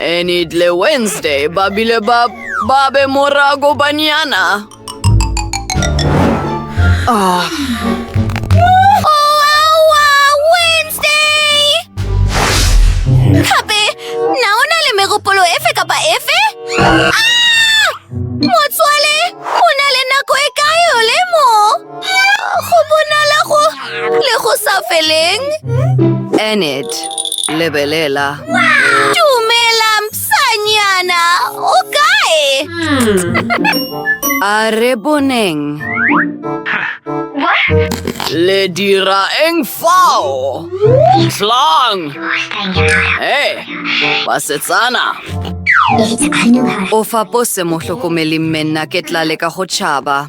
Enitle Wednesday ba bile ba ba be morago banyana. Ah. Gape, na o na le megopolo efe kapa efe? Ah! Motswale, o na le nako e kae o le mo? Go bonala go le go sa feleng. Enid, lebelela. Dumela, msanyana. O kae? A re boneng. Le dira eng fao? Tlang! Hei, basetsana! O fapose mohlokomeli mme nna ke tla leka go tšhaba.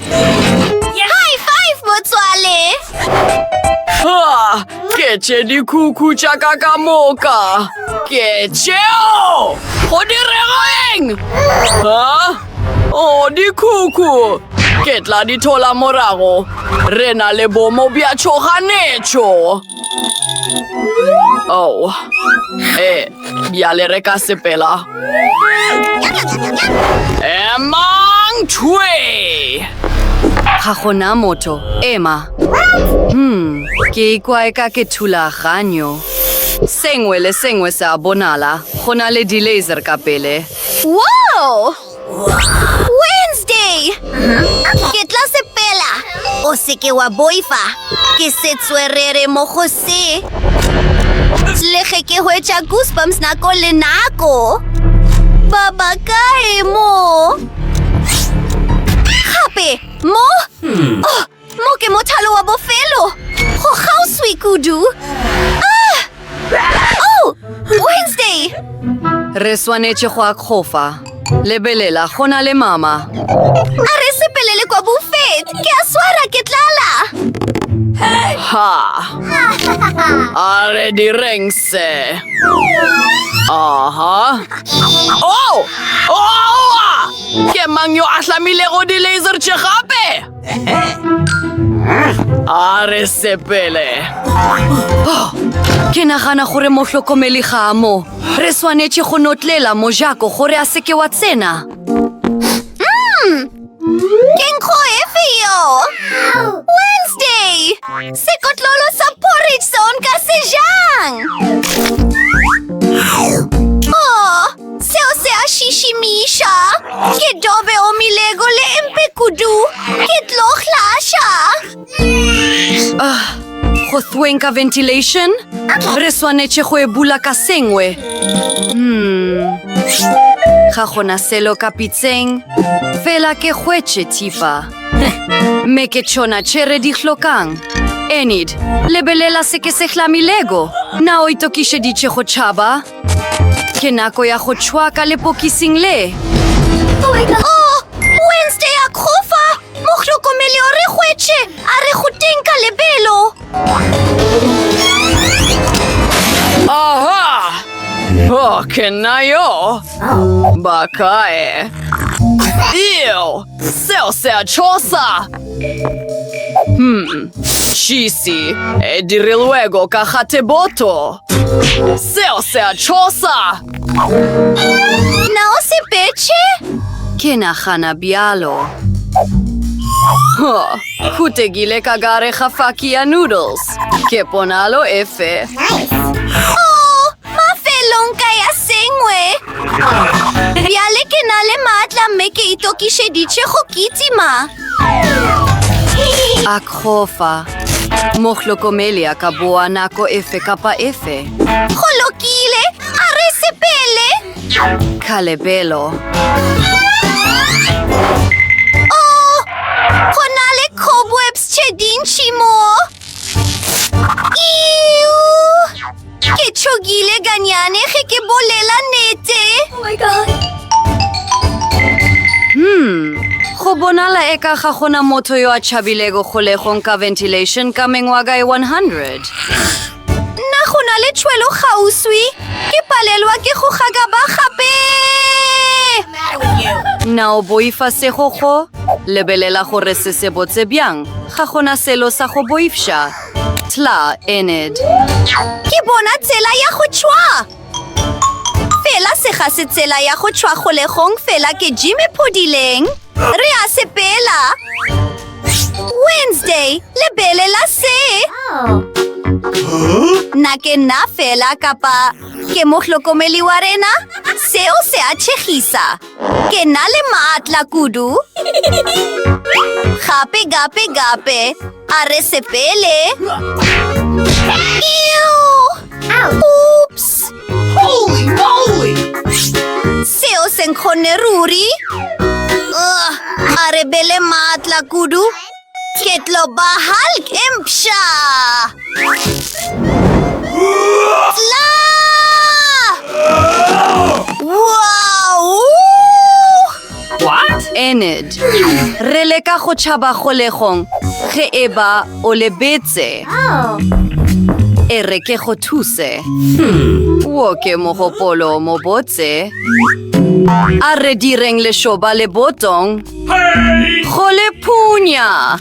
High five, motswale! Ha! Ke tše dikhukhu tša ka ka moka. Ke tšeo! Go dirego eng? Ha? O, dikhukhu! Ke tla di thola morago. Re na le bomo bja tšhoganetšo. Oh, eh, bjale re ka sepela. Emang tšhwe! Ga gona motho, ema. Hmm, ke ikwa e ka ke thulaganyo. Sengwe le sengwe se a bonala, go na le di-laser ka pele. Wow! Wednesday! Ke tla sepela. O seke wa boifa. Ke se tswerere mo go se. Le ge ke hwetša goosebumps nako le nako. Baba kae mo? Gape mo? Oh, Mo ke mothalo wa bofelo. Go kgauswi kudu. Ah! Oh! Wednesday! Re swanetše go akgofa. Lebelela, go na le mama. A re sepelele kwa buffet. Ke a swara, ke tlala. Ha! A re direng se. Aha. Oh! Oh! Ke mang yo a hlamilego di-laser tše gape? a re sepele ke nagana gore mohlokomeli ga mo re swanetše go notlela mojako gore a seke wa tsena mm. ke nkgo efe yo wednesday sekotlolo sa porridge se o nka se jang Seo se a šišimiša. Ke dobe omilego le mpe kudu. Ke tlo hlaša. Ah, go thweng ka ventilation? Re swanetše go e bula ka sengwe. Hmm. Ga gona selo ka pitseng. Fela ke hwetše thipa. Me ke tšona tše re di hlokang. Enid, lebelela se ke se hlamilego. Na o itokišeditše go tšhaba? Ke nako ya go tšhwaka lepokising le. Oh, Wednesday a kgofa! Mohlokomele o re hwetše, a re go teng ka lebelo. Aha! Oh, ke nna yo. Ba kae? Ew! Seo se a tshosa! Hmm, šisi, e dirilwego ka gateboto. Seo se a tshosa! Na o sepetše? Ke nagana bjalo. Huh, khutegile ka gare ga faki ya noodles. Ke ponalo efe? Oh, Mafelong ka ya sengwe. Bjale ke na le maatla mme ke itokišeditše go kitima. A kgofa. Mohlokomeli a ka boa nako efe kapa efe. Go lokile, a re sepele. Khalebelo. Oh, go na le cobwebs tše dintši mo. ke tšhogile ganyane ge ke bolela nete hmm go bonala e ka ga gona motho yo a tšhabilego kgolegong ka ventilation ka mengwaga e 100 nna go na le tšhwelo kgauswi ke palelwa ke go gakaba gape na o boifa segogo lebelela gore se se botse bjang Ga go na selo sa go boifša. Tla, Enid. Ke bona tsela ya go tšhwa! Fela se ga se tsela ya go tšhwa kgolegong fela ke Jimmy Phodileng. Re a sepela! Wednesday, lebelela se! Na ke nna fela kapa ke mohlokomeli wa rena? Seo se a tšhegisa! Ke na le maatla kudu. Gape, gape, gape. A re sepele. Oops! Holy moly! Seo se nkgonne ruri. Ugh, a re bele maatla kudu. Ke tlo ba Hulk e mpša! Tla! Wow! What? Enid. Re leka go tšhaba kgolegong ge e ba o lebetse. E re ke go thuse. Wo ke mogopolo mobotse. A re direng lešoba le botong. Go le punya.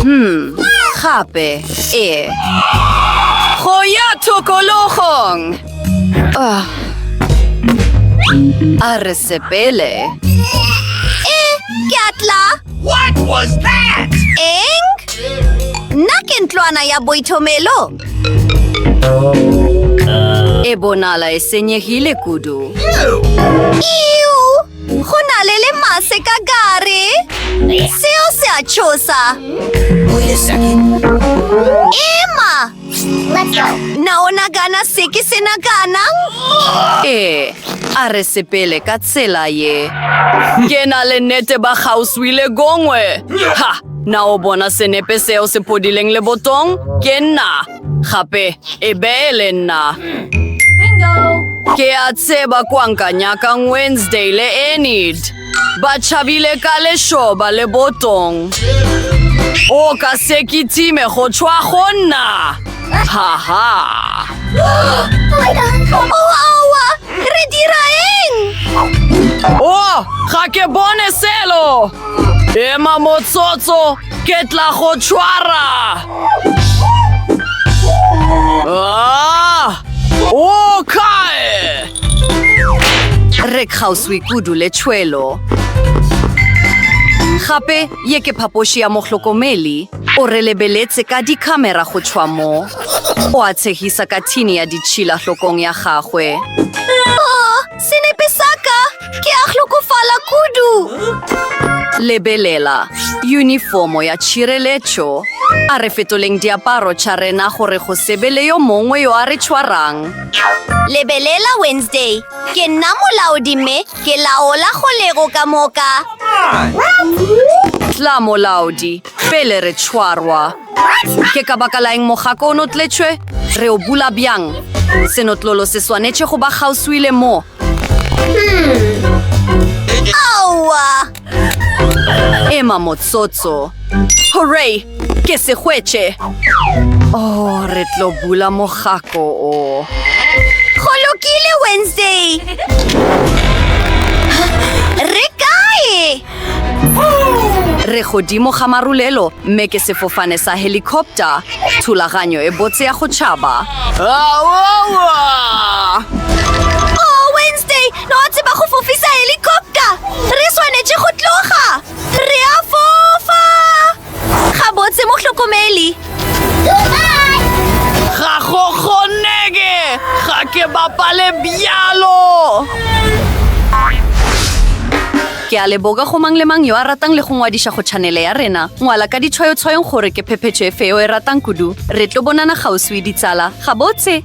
Hmm, gape, e. Go ya tokologong. Ah. A re sepele. E, ke atla. What was that? Eng? Nna ke ntlwana ya boithomelo. E bonala e senyegile kudu. Iu! Go na le lemase ka gare. Seo se a tšhosa. Ema! Na o nagana se ke se naganang? Ee, a re sepele ka tsela ye. Ke na le nete ba gauswi le gongwe. Ha! Na o bona senepe seo se podileng lebotong? Ke nna. Gape e be e le nna. Ke a tseba kwa nka nyakang Wednesday le Enid. Ba tšhabile ka lešoba le botong. O ka se kitime go tšwa go nna. Ha ha. Oawa, re dira eng? O, ga ke bone selo. Ema motsotso. Ke tla go tšhwara! Ah! O kae? Re kgauswi kudu le tšhwelo. Gape ye ke phapoši ya mohlokomeli. O re lebeletse ka dikhamera go tšhwa mo. O a tshegisa ka thini ya ditšhila hlokong ya gagwe. Senepe sa ka! Ke a hlokofala kudu! Lebelela, unifomo ya tšhireletšo. A re fetoleng diaparo tša rena gore go se be le yo mongwe yo a re tšhwarang. Lebelela, Wednesday. Ke nna molaodi mme ke laola kgolego ka moka. Tla, molaodi, pele re tšhwarwa. Ke ka baka laeng mogako o notletšwe? Re o bula bjang? Senotlolo se swanetše go ba kgauswi le mo. Aowa! Ema motsotso. Hooray! Ke se hwetše! Oh, re tlo bula mogako o. Go lokile, Wednesday! Re kae? Re godimo ga marulelo, mme ke sefofane sa helicopter, thulaganyo e botse ya go tšhaba. Oh, Wednesday, no a tseba go fofisa helicopter! Re swanetše go tloga! Re a fofa! Gabotse mohlokomeli. Ga go kgonege, ga ke bapale bjalo. Ke a leboga go mang le mang yo a ratang le go ngwadiša go chanele ya rena. Ngwala ka ditshwayotshwayong gore ke phephetšo e feo e ratang kudu. Re tlo bonana kgauswi ditsala. Gabotse!